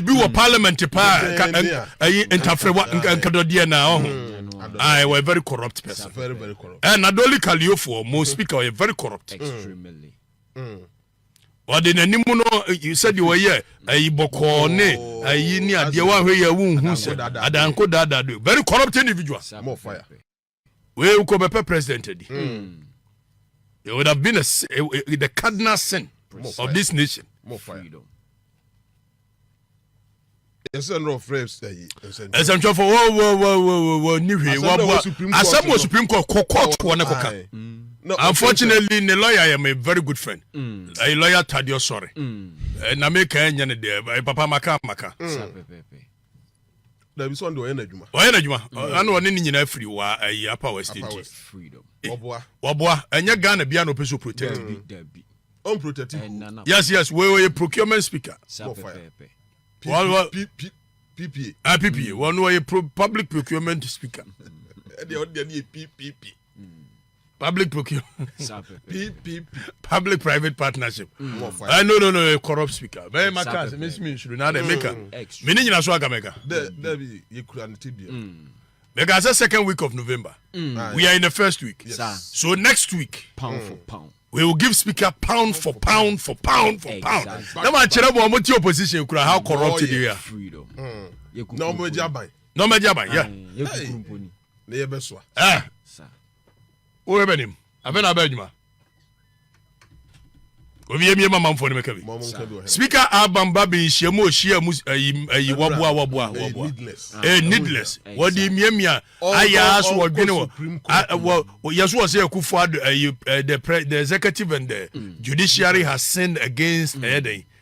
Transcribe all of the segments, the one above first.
biribi wɔ parliament paa ɛyi ntafrewa nkadɔdeɛ na ɔho mm. ah, I was a very corrupt person eh, na doli kaliofoɔ mo mm-hmm. speaker ɔyɛ very corrupt ɔde mm. n'anim no sɛdeɛ ɔyɛ ayi bɔkɔɔ ne ayi ne adeɛ wahwɛ yɛ wonhu sɛ adanko daadado very corrupt individual wei wokɔ bɛpɛ president adi mm. it would have been a, a, a, the cardinal sin Precisely. of this nation More fire. ɛsɛntwɛfo wɔni hwee wɔboa asɛm wɔ supreme court kɔ court wɔ ne kɔka unfortunately ne lawyer yɛ my very good friend mm. ɛyɛ lawyer tadeɛ sɔre mm. eh, na meka ɛnyɛ ne deɛ eh, papa maka maka mm. dabi sɛ ɔno deɛ ɔyɛ n'adwuma ɔyɛ n'adwuma mm. ɛna ɔne ne nyinaa firi wa ayi apa west nti eh, ɔboa ɔboa ɛnyɛ ghana bia na ɔpɛ so protect bi ɔn protect bi yes yes wei ɔyɛ procurement speaker ppa ppa wɔn ɔyɛ public procurement speaker ɛdeɛ ɔdeɛ ne yɛ ppp public procurement public private partnership mm. uh, no no no corrupt speaker bɛyɛ ma kaa sɛ mesi me nsuro na adɛ meka me ne nyina so aka mɛka mɛka sɛ second week of november mm. we are in the first week yes. so next week pound for mm. pound we will give speaker pound for pound for pound for pound na ma kyerɛ bɔ ɔmo ti opposition kura how corrupt oh, they are na ɔmo agya ban na ɔmo agya ban yeah ne yɛ bɛsoa eh. woyɛ bɛnim afei na abɛ adwuma obi emie ma manfoɔ no mɛka bi speaker album ba bi nhyia mu ohyia mu ayi waboa waboa waboa eh needless wɔde miamia ayɛ aso wɔdwene wɔ yɛso wɔ sɛ akufo ado ayi the executive and the mm. judiciary has sinned against ɛyɛ dɛn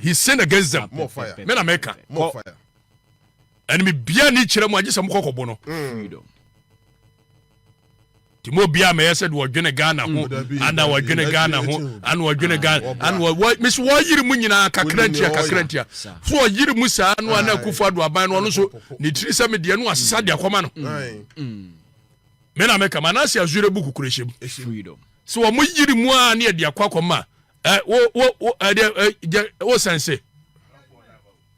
He sinned against them. More fire. Me na meka. More fire. Ɛne me bia ni kyerɛ mu agye sɛ mokɔ kɔbo no. Freedom. Ti mo bia mɛyɛ sɛ de wɔdwene Ghana ho ana wɔdwene Ghana ho ana wɔdwene Ghana ana wɔ mesi wɔyere mu nyinaa kakra ntia kakra ntia fo ɔyere mu saa no ana akufo ado aban no ɔno so ne tiri sɛ me deɛ no asesa de akɔma no me na meka ma na se azure bu kukure hyem freedom sɛ wɔn yere mu a ne ɛde akɔ akɔma ɛ wo wo wo ɛdeɛ ɛ gyɛ wo sɛnse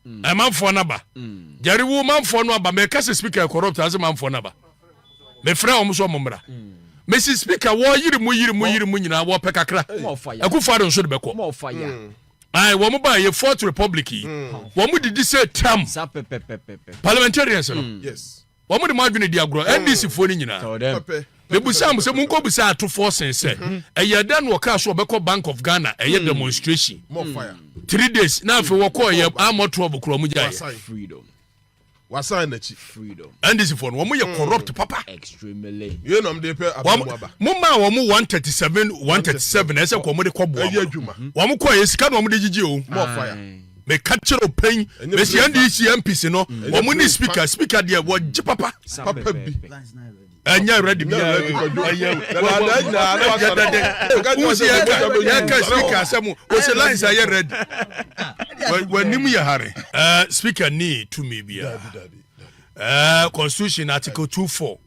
mm. ɛ manfoɔ no aba mm. gyɛre wo manfoɔ no aba mɛka sɛ speaker corrupt ase manfoɔ no aba mefrɛ wɔn so wɔn mmra mm. mesi speaker wɔyiri mu yiri mu yiri mu nyinaa wɔpɛ kakra ɛkufu ado nso de bɛkɔ ayi wɔn ba yɛ fourth republic yi wɔn didi sɛ tam parliamentarians no. Yes. Wɔn de mo adwene di agorɔ, NDC foɔ no nyinaa. Mebisa mo sɛ monkɔ bisa atofoɔ sen sɛ mhm. ɛyɛ dɛ na wɔkaa so wɔbɛkɔ Bank of Ghana ɛyɛ hmm. demonstration hmm. three days na afei wɔkɔ ɛyɛ amɔ twelve korɔ mo gya yɛ. wasan n'akyi. ndc fo no wɔn yɛ hmm. corrupt papa. extremely. yéé nam de pɛ abɛn mu aba. mo maa wɔn one thirty seven one thirty seven ɛsɛ kɔ wɔn de kɔ bɔ wɔn. ɛyɛ adwuma. wɔn kɔ yɛ sika na wɔn de gyigye o. mɔɔ fire. meka kyerɛ wo pɛn mɛsi ndc mps no mm. wɔn ne speaker speaker deɛ wɔgye papa papa bi ɛnyɛ ready bi ɛyɛwusi yɛka speaker asɛm wɔsɛ lines ayɛ ready w'anim yɛ hare eh, speaker ne tumi biara eh, constitution article 24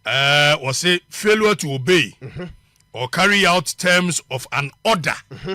eh, wɔse failure to obey mm-hmm. or carry out terms of an order mm-hmm.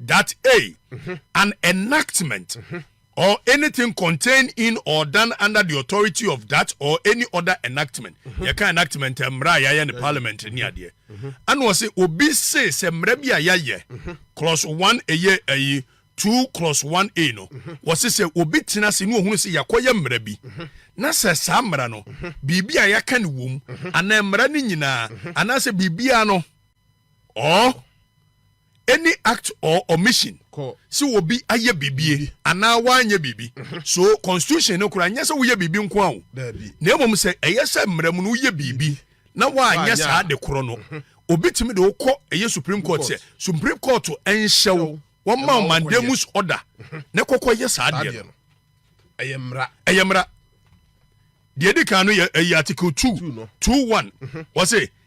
that a, an enactment or anything contained in or done under the authority of that or any other enactment mm-hmm. yɛka enactment eh, mmara a yɛayɛ ne parliament ne adeɛ mm-hmm. ɛna ɔse obi se sɛ mmara bi a yɛayɛ mm-hmm. clause one ɛyɛ ɛyi two clause one a no wɔse sɛ obi tena se ne ohunu sɛ yɛakɔyɛ mmara bi na sɛ saa mmara no biribi a yɛaka ne wom anaa mmara no nyinaa anaasɛ biribiara no or any act or omission sɛ obi ayɛ biribi anaa wanyɛ biribi mhm. so constitution no koraa nyɛ sɛ woyɛ biribi nko a o na mmom sɛ ɛyɛ sɛ mmerɛ mu no woyɛ biribi na wanyɛ saa de korɔ no mhm. obi tumi de wokɔ ɛyɛ supreme court sɛ supreme court nhyɛ wo wɔma wo mandamus order mhm. na kɔkɔ yɛ saa deɛ no ɛyɛ mmara ɛyɛ mmara deɛ ɛdi kan no yɛ ɛyɛ article two two one wɔsɛ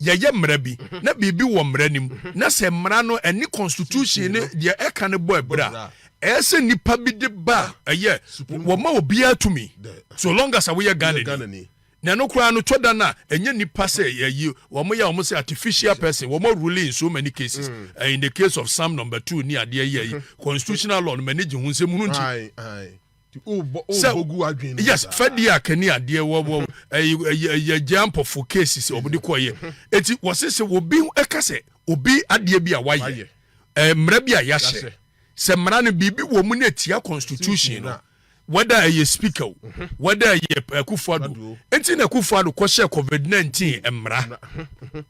yɛyɛ mmara bi na biribi wɔ mmara no mu na sɛ mmara no ɛne constitution no deɛ ɛka no bɔ abira a, ɛyɛ sɛ nipa bi de ba a ɛyɛ wɔma obiara tumi so long as a woyɛ Ghanani. Na ɛno koraa no tɔ da no a ɛnyɛ nipa sɛ yɛyi wɔn yɛ wɔn sɛ artificial person wɔn rule in so many cases mm. uh, in the case of some number two ni adeɛ yɛ yi constitutional law no mɛ ne gye ho nsɛm hunu nti. sɛ yes fɛdi a kani adeɛ wɔ wɔ ɛyɛ ɛyɛ ɛyɛ ampɔfo cases ɔmo de kɔ yɛ eti wɔsi sɛ obi ɛka sɛ obi adeɛ bi a wayɛ ɛɛ mmerɛ bi a yahyɛ sɛ mmara no biribi wɔ mu na etia constitution no whether ɛyɛ speaker o mhm. whether ɛyɛ akufuado eti na akufuado kɔhyɛ covid nineteen mmara. Mhm.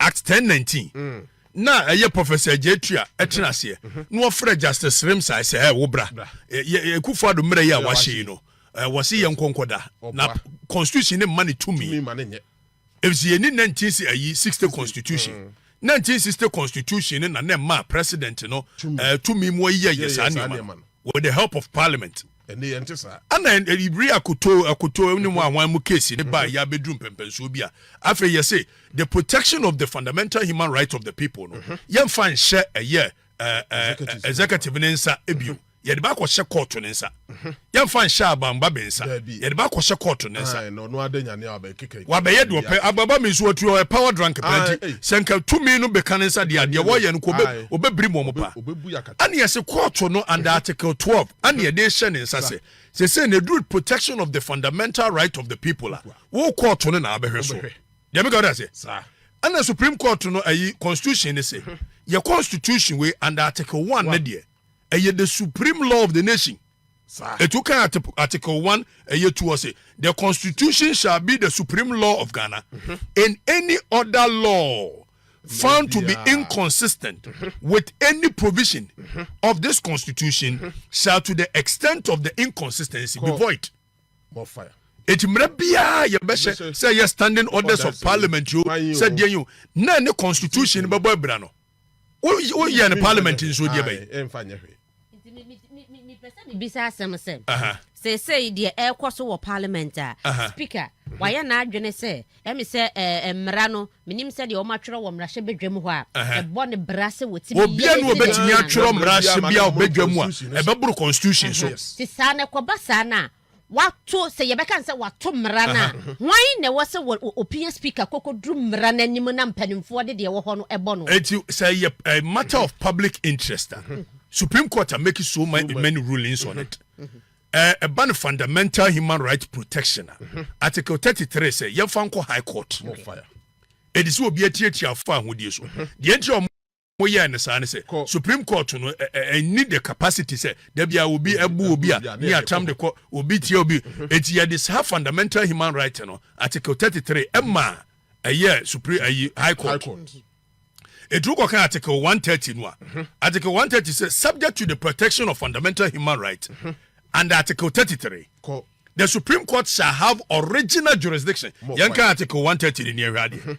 Act ten nineteen mm. na ɛyɛ Professor Gyatu a ɛtena mhm. aseɛ mhm. na wɔfrɛ Justice Remsae sɛ ɛ wo bra Akufo Addo mmerɛ yi a wahyɛ yi no wɔse yɛ nkɔnkɔda na constitution ne mma ne tumi ɛfisɛ yɛni 19 ayi 60 constitution mm. 1960 constitution ne na na ɛma president no tumi mu ayiyɛ yɛ saa nneɛma with the help of parliament Ɛnnɛ yɛnte saa. Ɛnna bere a kotoo akotoo ne mu a wɔn mu keesi no bae yɛ abeduru mpɛmpɛnsoɔ bi a, afei yɛse the protection of the fundamental human right of the people no, yɛmfa nhyɛ ɛyɛ executive ne nsa bio. Yɛde ba akɔhyɛ kɔɔto ne nsa. Yɛmfa nhyɛ abamba bi nsa. Yɛde ba akɔhyɛ kɔɔto ne nsa. Wabɛyɛ deɛ ɔpɛ. Ababa mi nso watu ɔyɛ power drunk paa nti sɛ nka tumi no bɛka ne nsa deɛ adeɛ wɔyɛ no kɔ ɔbɛbiri mu ɔmo paa. Ɛnna yɛse kɔɔto no under article twelve ɛna yɛde rehyɛ ne nsa sɛ sese na eduru protection of the fundamental right of the people a wo kɔɔto no na abɛhwɛ so deɛ meka ɔda sɛ ɛna supreme court no ayi constitution ne sɛ yɛ constitution wei under article one ne deɛ ɛyɛ the supreme law of the nation etu kan article one ɛyɛ tu ɔse the constitution shall be the supreme law of ghana in any other law found to be inconsistent with any provision of this constitution shall to the extent of the inconsistency be void eti mmerɛ biara yɛbɛhyɛ sɛ ɛyɛ standing orders of parliament yo sɛ deɛ yo na ne constitution bɛbɔ abira no woyɛ no parliament nso deɛ bɛyɛ bisa asɛm sɛ seesei deɛ ɛrekɔ so wɔ parliament a speaker wayɛ n'adwene sɛ ɛmi sɛ ɛɛ mmara no menim sɛ deɛ wɔn atwerɛ wɔ mmarahyɛ badwa mu hɔ a ɛbɔ ne bra sɛ wɔtumi obia no wɔbɛtumi atwerɛ mmarahyɛ bi a ɔbɛdwa mu a ɛbɛboro constitution so te saa na ɛkɔba saa no a Wɔato, sɛ yɛbɛka no sɛ wɔato mmara no a, hwan na ɛwɔ sɛ wɔ, opia Speaker kɔkɔduru mmara no anim na mpanimfoɔ de deɛ ɛwɔ hɔ no bɔ no? Enti sɛ ɛyɛ eh, matter of public interest a, Supreme Court are making so many, many rulings on it. Ɛba eh, no fundamental human right protection a, Article 33 sɛ yɛmfa nkɔ High Court. Ɛde sɛ obi atiatia afa ahodie so. Deɛ nti a wɔyɛɛ no saa ne sɛ supreme court no ɛnni the capacity sɛ da bia obi ɛbu obi a ne atam de kɔ obi tia obi eti yɛde saa fundamental human right no article 33 ɛma ɛyɛ supreme ayi high court ɛtumi kɔka article 130 no a mhm. article 130 sɛ subject to the protection of fundamental human rights mhm. and article 33 the supreme court shall have original jurisdiction yɛnka article 130 ne neɛhwɛ adeɛ mhm.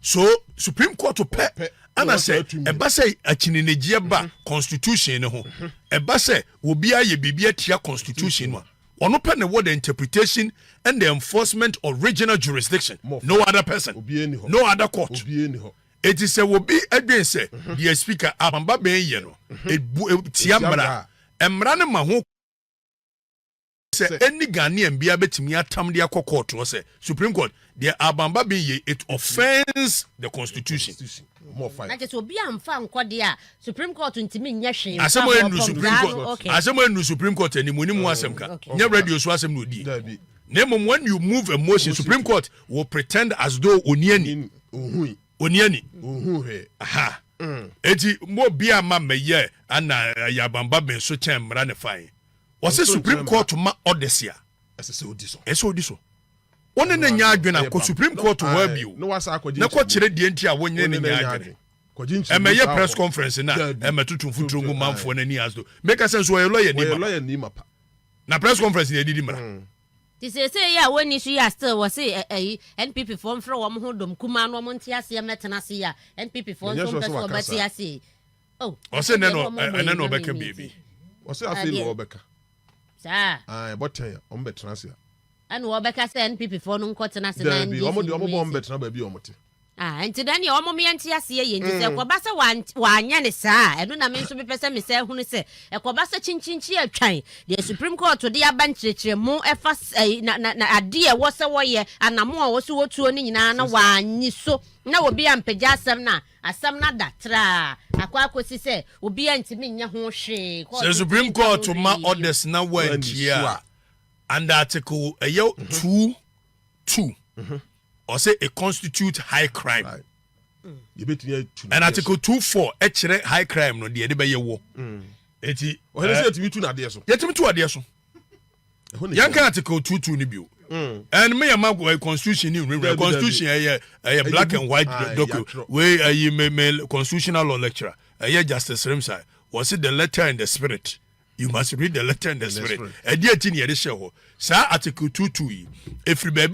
so supreme court pɛ ɛna sɛ ɛba sɛ akyinnyegyeɛ ba mm-hmm. constitution no ho mm-hmm. ɛba sɛ obi ayɛ biribi atia constitution no a ɔno pɛ na ɛwɔ the interpretation and the enforcement of regional jurisdiction no other person no other court eti sɛ obi adwen sɛ mm-hmm. deɛ speaker abamba bɛn yɛ no etia mmara mmara no ma ho. sɛ any Ghanaian biara bɛtumi atam de akɔ court hɔ sɛ Supreme Court deɛ Alban Bagbin yei it offends the constitution. Na kyɛ sɛ obi amfa nkɔ deɛ a Supreme Court ntumi nyɛ hwee mfa Asɛm a ɛnuru bɔtɔm Supreme daa no Court okay. asɛm a ɛnuru Supreme Court anim wɔnim ho asɛm ka Okay. nyɛ radio so asɛm na ɔdie Dabi. na mmom when you move a motion Motion Supreme to- Court will pretend as though ɔni ani Nin- Ohui. ɔni ani Ohu hwɛ. aha Mm. eti mo bi a ma mɛyɛ ana eh, yɛ abanba bɛn so kyɛn mmara ne fae Wɔse Supreme Court ma orders a, ɛsɛ sɛ odi so. Ɛsɛ odi so. Wo ne no nyɛ adwene a, kɔ Supreme Court hɔ ara bio na kɔkyerɛ deɛ nti a wo ne no nyɛ adwene. Ɛmmɛyɛ press conference na ɛmmɛtoto mfuturo ngu manfoɔ no ani as though meka sɛ nso ɔyɛ lɔyani mapa. Na press conference na ɛdidi mmara. Nti seesei yi a wɔnni so yi a still wɔse ayi NPP foɔ mfrɛ wɔn ho dɔm kumaa no wɔn nte aseɛ mmɛtena ase yi a NPP foɔ nso mpɛ sɛ wɔbɛte aseɛ yi, Oh, ɔsɛ nɛ na ɛnɛ na ɔbɛka biribi ɔsɛ afei na ɔbɛka saa ah, ɛbɔtɛn a ɔmo bɛtena ase a ɛna ɔbɛka sɛ npp foɔ no nkɔtena ase na ndc ɔmo de ɔmo bɔ ɔmo bɛtena baabi a ɔmo te ah, nti na neɛ ɔmo meɛ nte aseɛ yɛ nti sɛ mm. ɛkɔba sɛ wanyɛ ne saa a ɛno na me nso mepɛ sɛ mesɛ hunu sɛ ɛkɔba sɛ kyinkyinkyi atwan deɛ supreme court de aba nkyerɛkyerɛ mu ɛfa eh, na na na adeɛ ɛwɔ sɛ wɔyɛ anamo a wɔso wɔtuo no nyinaa na wɔanyi so na obi ampagya asɛm no a Asɛm no ada traa akɔ akosi sɛ obiara ntumi nyɛ ho hwee. Sɛ Kɔɔto Supreme Twitter Court no ma rewiei. orders na wɔantie a, under Article ɛyɛ two two, ɔsɛ it constitute high crime. Yɛbɛtumi atu no And adeɛ Article so. two four ɛkyerɛ high crime no deɛ ɛde bɛyɛ wɔ. Nti Ɔhene sɛ eh, yɛtumi tu no adeɛ so. yɛtumi tu adeɛ so. yɛn kan article two two ni bi o mm. ɛn mi yɛ ma eh, constitution ni nwurawura constitution ɛyɛ ɛyɛ black and white ah, document wei ɛyi eh, mi mi constitutional law lecturer ɛyɛ eh, justice rimsai wɔsi the letter and the spirit you must read the letter and the spirit ɛdi eti ni yɛde hyɛ hɔ saa article two two yi efiri baabi.